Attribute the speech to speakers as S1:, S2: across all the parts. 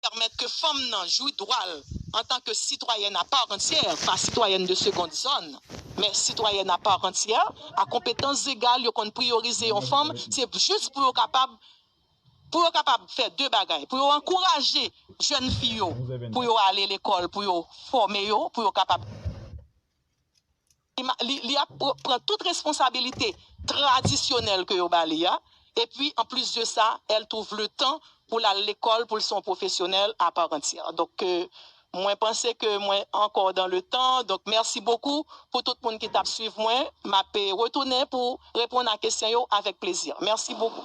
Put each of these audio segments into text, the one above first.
S1: pèmèt ke fanm nan jwi dwa l antan ke sitwayèn a part entière, pa sitwayèn de seconde zone, men sitwayèn a part entière, a konpetans zegal, yo konn priyorize yon fanm, se jis pou yo kapab, pou yo kapab fè de bagay, pou yo ankouraje jèn fi yo pou yo ale lekòl, pou yo fòme yo, pou yo kapab. li ap pran tout responsabilite tradisyonèl ke yo ba li a, epi an plis de sa, el twouv le tan pou l al lekòl pou l se yon pwofesyonèl a part entière. Donk mwen panse ke mwen ankò dan le tan, donk mèsi bokou pou tout moun ki t ap swiv mwen, m ap retounen pou reponn a kesyon yo avèk plezi. Mèsi bokou.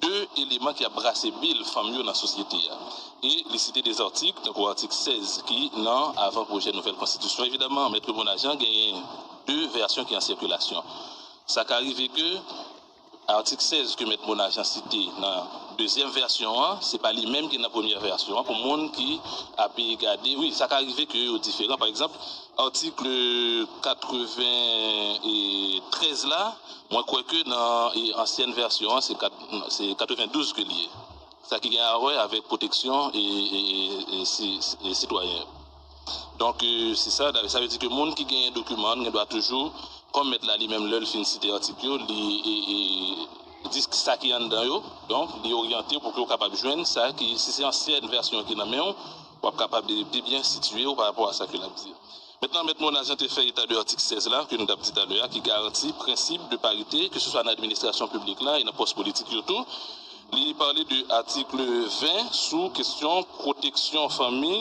S2: De eleman ki ap brase bil fanm yo nan sosyete a. E li site de zatik, tankou atik 16 ki nan avan pwojè nouvèl konstitisyon. Evidaman, Maitre Bonajean genyen de vèsyon ki an sikilasyon. Sa ka rive ke atik 16 ke Mèt Bonajean site nan dezyèm vèsyon an, se pa li menm ki nan premyè vèsyon an, pou moun ki ape gade, wi, sa ka rive ke yo diferan. Pa egzanp, atik 93 la, Mwen kwè ke nan ansyèn vèsyon an se 92 ke li ye. Sa ki gen a wè avèk pwoteksyon sitwayen yo. Donk si sa, sa vle di ke moun ki genyen dokiman an gen dwa toujou, kòm mèt la li menm lè l fin site atik yo, li di sa ki anndan yo, donk li oryante w pou ke w kapab jwenn sa ki, si se ansyèn vèsyon ki nan men w, w ap kapab pi byen sitiye w parapò a sa ke l ap di. Mèt lan, Mèt Monas Jean te fè eta de atik 16 la, ke nou t ap di talè a, ki garanti prensip de parite, keseswa nan administrasyon piblik la e nan pòs politik yo tou. Li pale de atikl 20 sou kesyon pwoteksyon fanmi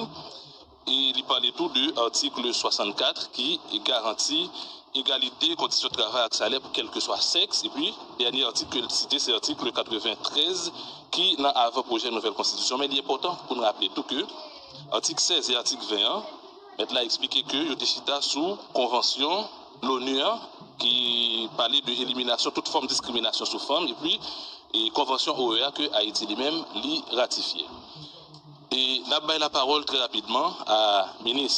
S2: e li pale tou de atikl 64 ki garanti egalite kondisyon travay ak salè pou kèlkeswa sèks. Epi, dènye atik ke l site se atikl 93 ki nan avan pwojè nouvèl konstitisyon. Men li enpòtan pou n raple tou ke atik 16 e atik 20 an, Mèt la eksplike ke yo te chita sou konvansyon LONU an ki pale de eliminasyon tout fòm diskriminasyon sou fanm epi konvansyon OEA ke Ayiti li menm li ratifye. E nap bay lapawòl trè rapidman a minis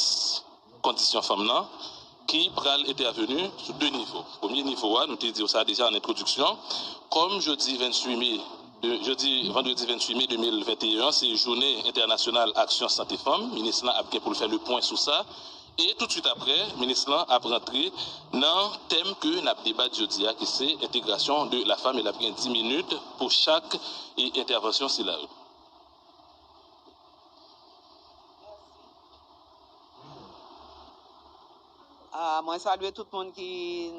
S2: kondisyon fanm nan, ki pral entèveni sou 2 nivo. Premye nivo a, nou te di w sa deja an entwodiksyon, kòm jodi 28 me, jodi vandredi 28 me 2021 an se jounen entènasyonal aksyon sante fanm, minis lan ap gen pou l fè le pwen sou sa e toutswit aprè minis lan ap rantre nan tèm ke n ap debat jodi a ki se entegrasyon de la fam e l ap gen 10 minit pou chak entèvansyon sila yo.
S3: Ah, mwen salye tout moun ki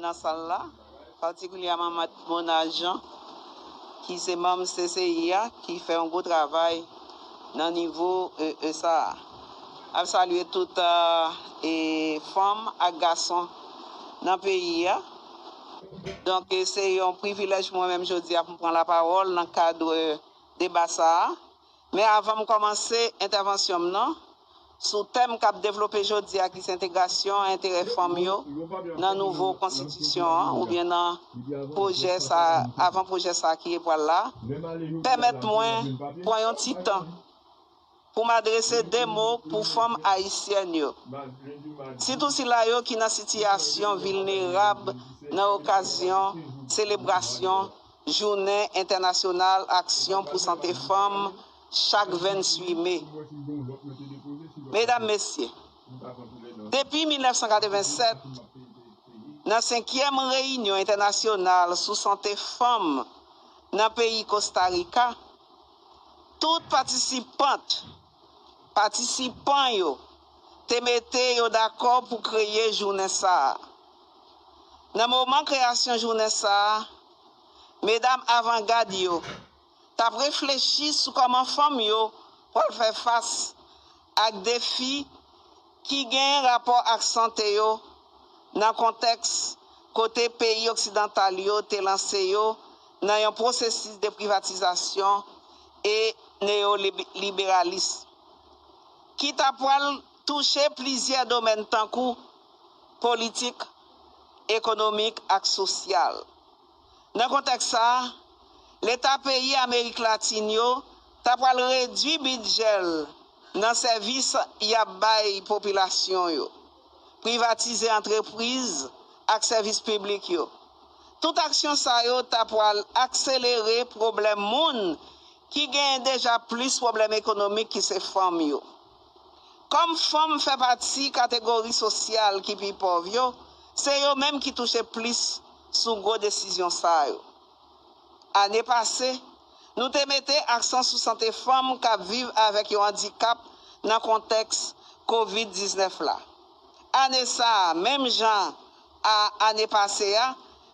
S3: nan sal la, patikilyèman Mèt Monal Jean, ki se manm CCI a, ki fè yon gwo travay nan nivo e sa a. Ap salye tout e fanm ak gason nan peyi a. Donk se yon privilèj pou mwen menm jodi a pou m pran lapawòl nan kad deba sa a, men avan m kòmanse entèvansyon m nan, sou tèm k ap devlope jodi a ki se entegrasyon enterè fanm yo nan nouvo konstitisyon an oubyen nan pwojè sa avan pwojè sa ki epwal la, pèmèt mwen pran yon ti tan Pou m adrese de mo pou fanm ayisyèn yo, sitou sila yo ki nan sitiyasyon vilnerab nan okazyon selebrasyon Jounen Entènasyonal Aksyon pou Sante Fanm chak 28 me. Medam, Mesye, depi 1987, nan senkyèm reyinyon entènasyonal sou sante fanm nan peyi Kosta Rika, Tout patisipant, patisipan, yo te mete yo dakò pou kreye jounen sa a. Nan moman kreyasyon jounen sa a, medam avangad yo t ap reflechi sou kòman fanm yo pral fè fas ak defi, ki gen rapò ak sante yo nan kontèks kote peyi oksidantal yo te lanse yo nan yon pwosesis de privatizasyon e neyoliberalis ki ta pwal touche plizyè domèn tankou politik, ekonomik ak sosyal. Nan kontèks sa, Leta peyi Amerik Latin yo ta pral redui bidjè l nan sèvis y ap bay popilasyon yo, privatize antrepriz ak sèvis piblik yo. Tout aksyon sa yo ta pral akselere pwoblèm moun ki genyen deja plis pwoblèm ekonomik ki se fanm yo. Kòm fanm fè pati kategori sosyal ki pi pòv yo, se yo menm ki touche plis sou gwo desizyon sa yo. Ane pase, nou te mete aksan sou sante fanm k ap viv avèk yon andikap nan kontèks Covid 19 la. Ane sa a, menm jan a ane pase a,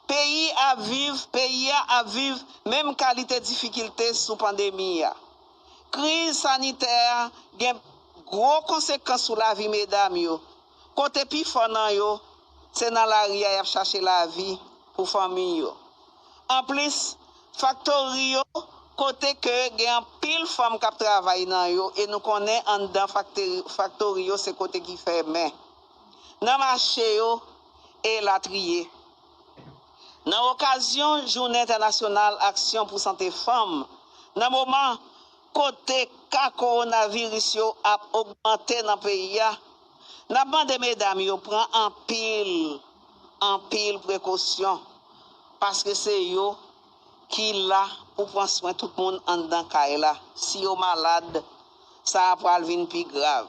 S3: peyi a viv peyi a ap viv menm kalite difikilte sou pandemi a. Kriz sanitè a gen gwo konsekans sou lavi medam yo, kote pi fò nan yo se nan lari a y ap chache lavi pou fanmi yo. Anplis, faktori yo kote ke gen anpil fanm k ap travay nan yo e nou konnen anndan faktori yo se kote ki fèmen, nan mache yo, elatriye. Nan okazyon jounen entènasyonal aksyon pou sante fanm, nan moman kote ka kowonaviris yo ap ogmante nan peyi a, n ap mande medam yo pran anpil, anpil prekosyon paske se yo ki la pou pran swen tout moun anndan kay la, si yo malad, sa a pral vin pi grav.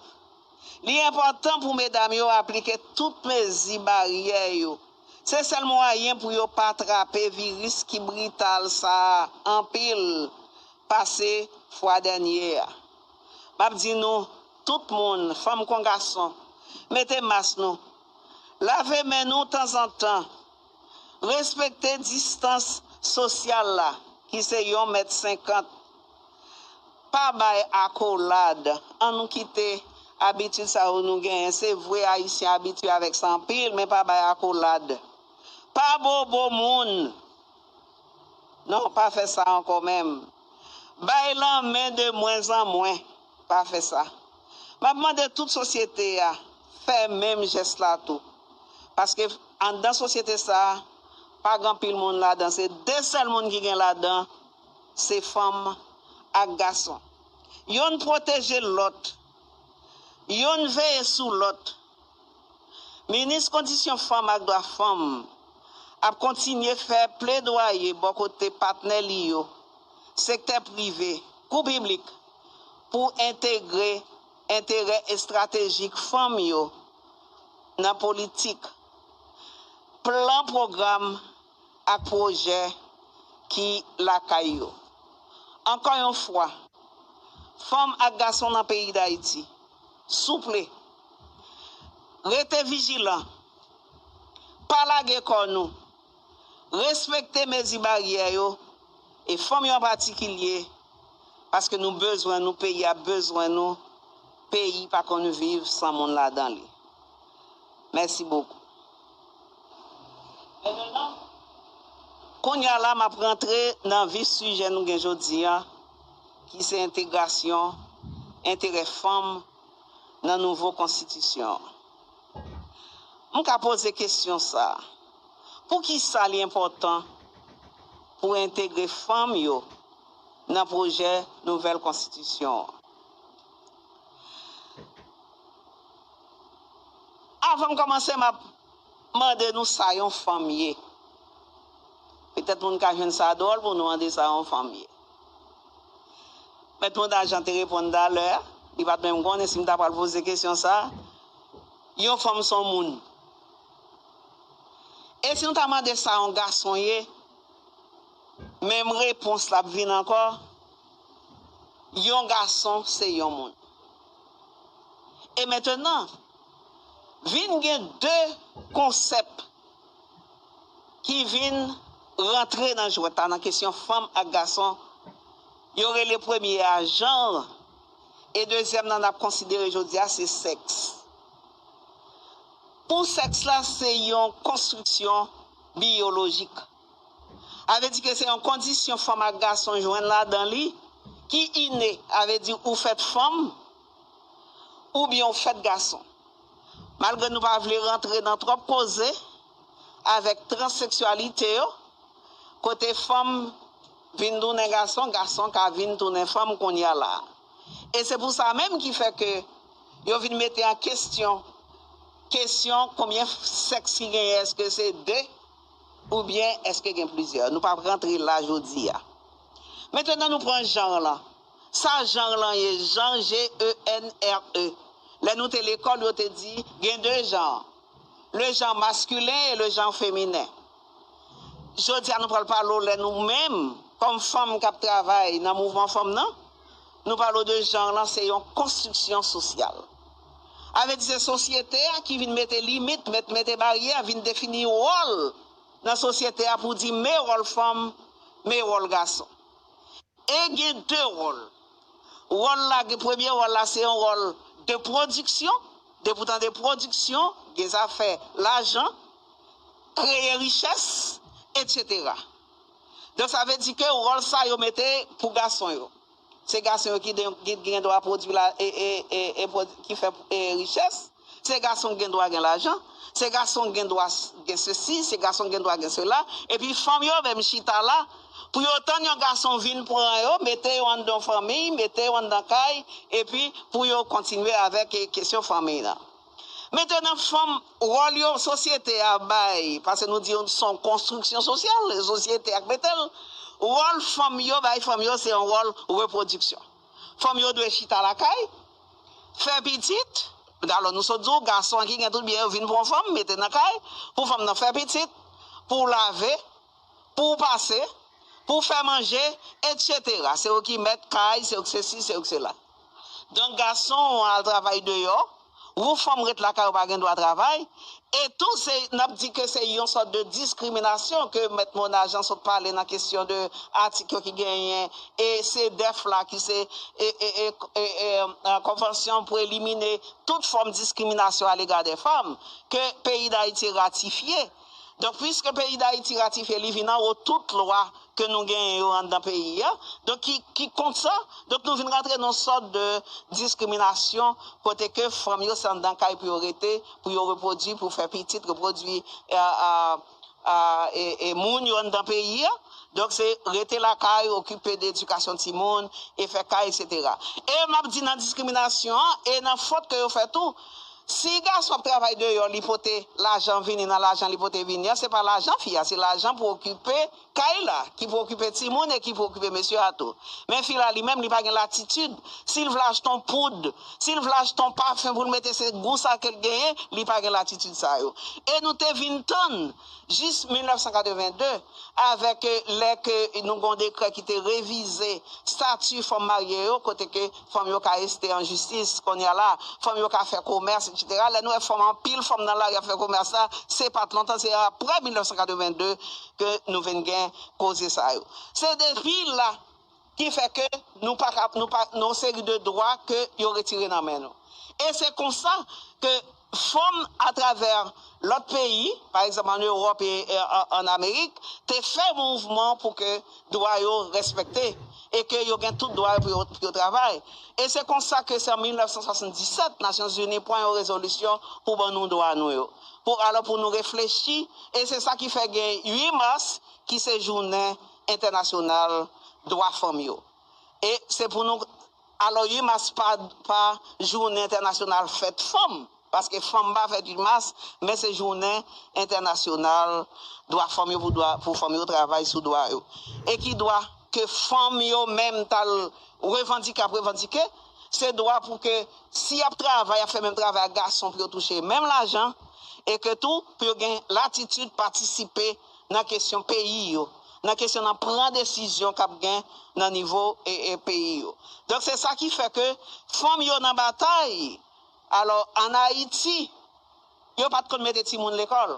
S3: Li enpòtan pou medam yo aplike tout mezi baryè yo. Se sèl mwayen pou yo pa trape viris ki brital sa a anpil pase fwa dènye a. M ap di nou tout moun, fanm kon gason, mete mas nou, lave men nou tanzantan Respekte distans sosyal la ki se yon mèt senkant. Pa bay akolad. An nou kite abitid sa yo nou genyen. Se vre Ayisyen abitye avèk sa anpil men pa bay akolad. Pa bobo moun. Non pa fè sa ankò menm. Bay lanmen de mwenzanmwen. Pa fè sa. M ap mande tout sosyete a fè menm jès la tou. Paske anndan sosyete sa a, pa gen anpil moun ladan. Se de sèl moun ki gen ladan, se fanm ak gason. Youn pwoteje lòt. Youn veye sou lòt. Minis kondisyon fanm ak dwa fanm ap kontinye fè pledwaye bò kote patnè li yo, sektè prive kou piblik, pou entegre enterè estratejik fanm yo nan politik, plan pwogram ak pwojè ki lakay yo. Ankò yon fwa, fanm ak gason nan peyi Dayiti, souple! Rete vijilan. Pa lage kò nou. Respekte mezi baryè yo e fanm yo an patikilye paske nou bezwen nou peyi a bezwen nou peyi pa konn viv san moun ladan li mèsi bokou. Kounya la map rantre nan vif sijè nou gen jodi an ki se entegrasyon, enterè fanm. nan nouvo konstitisyon an. M ka poze kesyon sa a, Poukisa li enpòtan pou entegre fanm yo nan pwojè nouvèl konstitisyon an? Avan m kòmanse, m ap mande nou sa yon fanm ye. Petèt moun ka jwenn sa dwòl pou nou mande sa yon fanm ye. Mèt Monda Jan te reponn talè, li pa t menm konnen si m ta pral poze kesyon sa a, Yon fanm s on moun. E si nou ta mande sa yon gason ye, menm repons la ap vin ankò, Yon gason se yon moun. E mentenan, vin gen de konsèp. ki vin rantre nan jwèt la nan kesyon fanm ak gason, yo rele premye a janr e dezyèm nan n ap konsidere jodi a se sèks. Pou sèks la se yon konstriksyon biyolojik. A vle di ke se yon kondisyon fanm ak gason jwenn ladan li ki ine, a vle di ou fèt fanm oubyen ou fèt gason. Malgre nou pa vle rantre nan twòp koze avèk transseksyalite yo, kote fanm vin tounen gason, gason ka vin tounen fanm kounya la a. E se pou sa menm ki fè ke yo vin mete an kestyon kesyon konbyen sèks ki genyen, èske se 2 oubyen èske gen plizyè. Nou pa p rantre la jodi a. Mentenan nou pran janr lan. Sa genre lan ye genre G-E-N-R-E Lè nou te lekòl yo te di gen 2 genre Le genre masculin et le genre féminin Jodi a nou pral pale w lè nou menm kòm fanm k ap travay nan mouvman fanm nan Nou pale w de genre lan se yon konstriksyon sosyal Sa vle di se sosyete a ki vin mete limit met mete baryè vin defini wòl nan sosyete a pou di me wòl fanm me wòl gason. E gen de wòl. Wòl la gen premye wòl la se yon wòl de pwodiksyon, depi w tande pwodiksyon gen zafè lajan, kreye richès, etsetera. Donk sa vle di ke wòl sa yo mete pou gason yo. Se gason yo ki gen dwa pwodwi la e ki fè richès. Se gason ki gen dwa gen lajan, se gason ki gen dwa gen sesi, se gason ki gen dwa gen sela, epi fanm yo menm chita la pou yo tann yon gason vin pran yo, mete yo anndan yon fanmiy, mete yo anndan kay, epi pou yo kontinye avèk kesyon fanmiy lan. Mentenan fanm, wòl yo sosyete a bay, pase nou di yo se yon konstriksyon sosyal, se sosyete a ki mete l, wòl fanm yo bay fanm yo se yon wòl repwodiksyon. Fanm yo dwe chita lakay, Fè pitit, alò nou sot di w gason an ki gen tout byen yo vin pran w fanm, mete nan kay, pou fanm nan fè pitit, pou w lave, pou w pase, pou w fè manje, etsetera. Se yo ki mèt kay, se yo ki sesi, se yo ki sela. Donk gason an al travay deyò, wou fanm ret lakay ou pa gen dwa travay, E tou se n ap di ke se yon sòt de diskriminasyon ke Mèt Mona Jean sot pale nan kesyon de atik yo ki genyen e CEDEF la ki se Konvansyon pou elimine tout fòm diskriminasyon alega dè fanm ke peyi Dayiti ratifye. Donk, puiske peyi Dayiti ratifye li vin anwo tout lwa ke nou genyen yo anndan peyi a, donk ki kont sa, donk nou vin rantre nan yon sòt de diskriminasyon kote ke fanm yo se anndan kay pou yo rete, pou yo repwodui, pou fè pitit, repwodui e moun yo anndan peyi a, donk se rete lakay, okipe de edikasyon timoun, e fè kay, eksetera. E m ap di nan diskriminasyon an, e nan fot ke yo fè tou, Si gason ap travay deyò li pote lajan vini nan lajan li pote vini an se pa lajan fi a se lajan pou okipe kay la ki pou okipe timoun e ki pou okipe mesye a tou men fi la li menm li pa gen latitid si l vle achte yon poud si l vle achte yon pafen pou l mete se gou sa ke l genyen li pa gen latitid sa yo e nou te vin tann Jis 1982, avèk lè ke nou gen yon dekrè ki te revize stati fanm marye yo, kote ke fanm yo ka este an jistis, kounye a la, fanm yo ka fè komès, etsetera, lè nou wè fanm anpil fanm nan lari ap fè komès la, se pa t lontan, se aprè 1982 ke nou vin gen koze sa yo. Se depi la ki fè ke nou pa ka, nou pa, gen yon seri de dwa ke yo retire nan men nou. E se konsa ke. fanm atravè lòt peyi, pa egzanp ann Ewòp e ann Amerik, te fè mouvman pou ke dwa yo respekte e ke yo gen tout dwa yo pou yo travay. E se konsa ke se an 1977 Nasyonzini pran yon rezolisyon pou ban nou dwa nou yo. Pou alò pou nou reflechi e se sa ki fè gen 8 mas ki se jounen entènasyonal dwa fanm yo. E se pou nou. Alò 8 mas pa pa jounen entènasyonal fèt fanm, paske fanm pa fèt 8 mas, men se jounen entènasyonal dwa fanm yo pou dwa pou fanm yo travay sou dwa yo. E ki dwa ke fanm yo menm t al revandike ap revandike, se dwa pou ke si y ap travay, y ap fè menm travay ak gason pou yo touche menm lajan e ke tou pou yo gen latitid patisipe nan kesyon peyi yo, nan kesyon nan pran desizyon k ap gen nan nivo peyi yo. Donk se sa ki fè ke fanm yo nan batay. Alò an Ayiti, yo pa t konn mete timoun lekòl.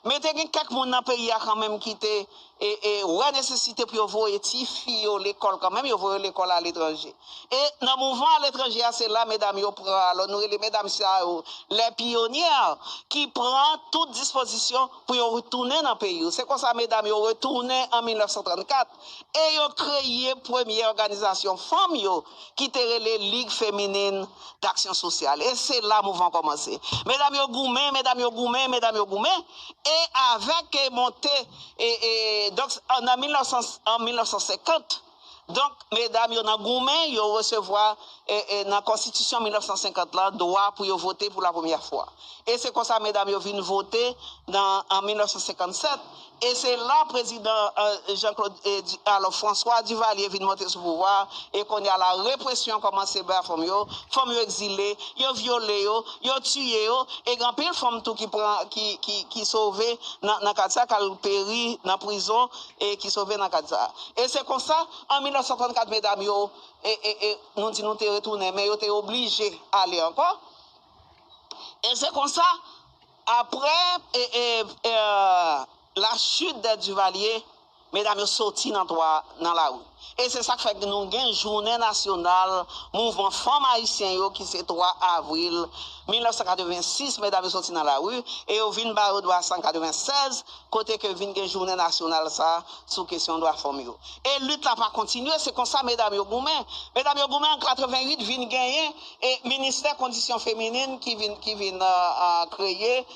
S3: Men te gen kèk moun nan peyi a kanmenm ki te wè nesesite pou yo voye tifi yo lekòl kanmenm, yo voye yo lekòl aletranje. E nan mouvman aletranje a, se la medam yo pran, alò nou rele medam sa yo les pionnières, ki pran tout dispozisyon. pou yo retounen nan peyi yo. Se konsa medam yo retounen an 1934 e yo kreye premye òganizasyon fanm yo ki te rele Ligue Féminine d'Action Sociale. E se la mouvman kòmanse. Medam yo goumen, medam yo goumen, medam yo goumen e avèk monte, donk an 1950, Donk, medam yo nan goumen, yo resevwa, nan konstitisyon 1950 lan, dwa pou yo vote pou lapremyè fwa. E se konsa medam yo vin vote nan, an 1957, e se la prezidan Jean Claude, alo François Duvalier vin monte sou pouvwa a, e kounye a la represyon kòmanse ba fanm yo, fanm yo egzile, yo vyole yo, yo tiye yo, e gen anpil fanm tou ki pran, ki sove nan kad sa, k al peri nan prizon. e ki sove nan kad sa a. E se konsa, an 1934 medam yo, e, e, e, nou di nou te retounen, men yo te oblije ale ankò, e se konsa, aprè, e, e, e, la chute des Duvalier, medam yo soti nan twa, nan lari. E se sa k fè nou gen jounen nasyonal mouvman fanm ayisyen yo ki se 3 avril 1986 medam yo soti nan lari e yo vin ba yo dwa sa an 96 kote ke vin gen jounen nasyonal sa a sou kesyon dwa fanm yo e lit la pa kontinye se konsa medam yo goumen medam yo goumen an 88 vin genyen e ministè kondisyon feminin ki vin kreye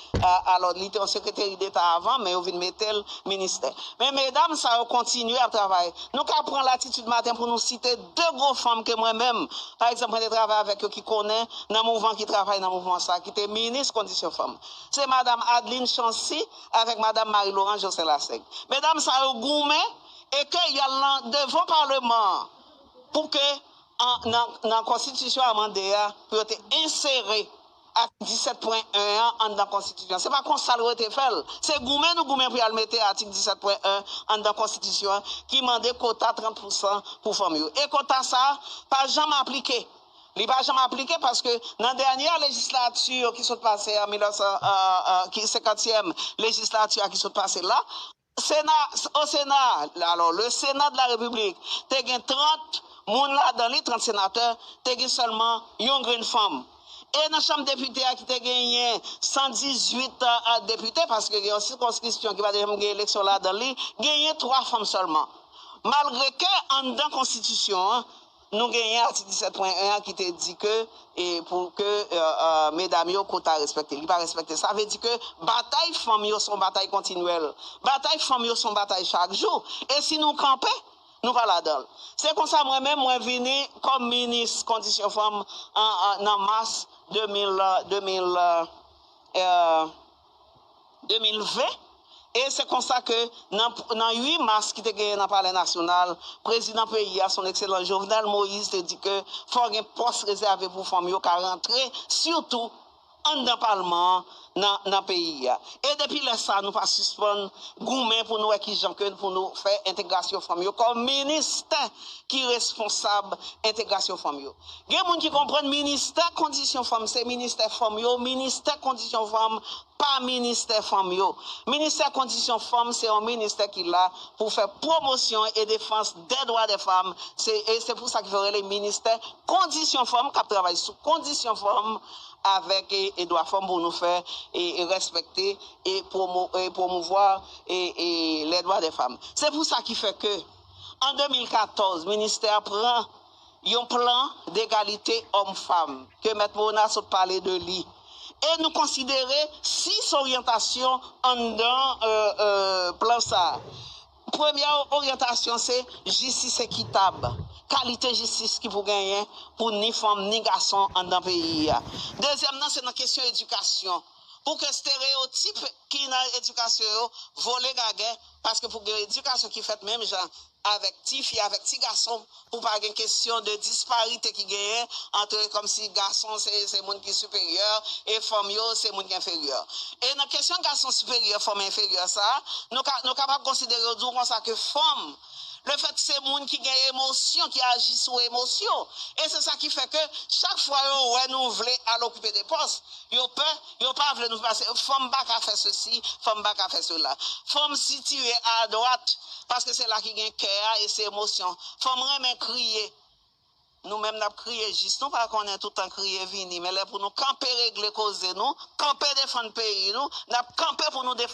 S3: Alò, li te yon sekreteri deta avan, men yo vin mete l ministè. Men medam sa yo kontinye ap travay. Nou ka pran latitid maten pou nou site de gwo fanm ke mwen menm, pa egzanp, mwen te travay avèk yo ki konnen nan mouvan ki travay nan mouvman sa ki te minis kondisyon fanm. Se madam Adeline Chancy avèk madam Marie Laurence Jocelyn Lassaigne. Medam sa yo goumen e ke y al nan devan paleman an pou ke nan konstitisyon amande a pou yo te ensere Atik 17 pwen 1 an anndan konstitisyon. Se pa konsa l rete fè l. Se goumen nou goumen pou y al mete atik 17 pwen 1 anndan konstitisyon an ki mande kota 30 pousan pou fanm yo. E kota sa a pa janm aplike. Li pa janm aplike paske nan dènyè lejislati yo ki sot pase an 1900, ki senkantyèm lejislati a ki sot pase la, Sena, Au Sénat, alors, le Sénat de la République, te gen 30 moun ladan li, 30 senatè, te gen sèlman yon grenn fanm. E nan Chanm Depite a ki te genyen 118 depite, paske gen yon sikonskripsyon ki pa te janm gen eleksyon ladan li, genyen 3 fanm sèlman. Malgre ke anndan konstitisyon an, Nou genyen atik 17.1 an ki te di ke pou ke medam yo kota respekte. Li pa respekte. Sa vle di ke batay fanm yo son batay kontinyèl. Batay fanm yo son batay chak jou. E si nou kanpe, nou pa ladan l. Se konsa mwen menm mwen vini kòm minis kondisyon fanm nan mas 2000, 2000 e. 2020, e se konsa ke nan 8 mas ki te genyen nan palè nasyonal, prezidan peyi a, Son Ekselans Jovenel Moïse te di ke fò gen pòs rezève pou fanm yo ka rantre sitou anndan palman an nan peyi a. E depi lè sa nou pa sispann goumen pou nou wè ki jan ke pou nou fè entegrasyon fanm yo kòm ministè ki responsab entegrasyon fanm yo. Gen moun ki konprann ministè kondisyon fanm se ministè fanm yo, ministè kondisyon fanm pa ministè fanm yo. Ministè kondisyon fanm se yon ministè ki la pou fè pwomosyon e defans dè dwa dè fanm se e se pou sa ki fè yo rele ministè kondisyon fanm kap travay sou kondisyon fanm avèk e dwa fanm pou nou fè e rèspèkte e pwomo e pwomouvwa e e lè dwa dè fanm. Se pou sa ki fè ke an 2014 ministè a pran. yon plan degalite òm fam ke Mèt Mona sot pale de li e nou konsidere 6 oryantasyon anndan plan sa. Premyè oryantasyon se jistis ekitab, kalite jistis ki pou genyen pou ni fanm ni gason anndan peyi a. Dezyèm nan se nan kesyon edikasyon pou ke stereyotip ki nan edikasyon yo vole gagè paske pou gen edikasyon ki fèt menm jan avèk ti fi avèk ti gason pou pa gen kesyon de disparite ki genyen antre kòmsi gason se moun ki siperyè e fanm yo se moun ki enferyè e nan kesyon gason siperyè fanm enferyè sa nou kapab konsidere yo di w konsa ke fanm lefèt se moun ki gen emosyon ki aji sou emosyon e se sa ki fè ke chak fwa yo wè nou vle al okipe de pòs yo pè Yo pa vle nou pase fanm pa ka fè sesi fanm pa ka fè sela fanm sitire a dwat paske se la ki gen kè a e se emosyon fanm renmen kriye nou menm nap kriye jis nou pa konnen toutan kriye vini men lè pou nou kanpe regle koze nou kanpe defann peyi nou nap kanpe pou nou defann.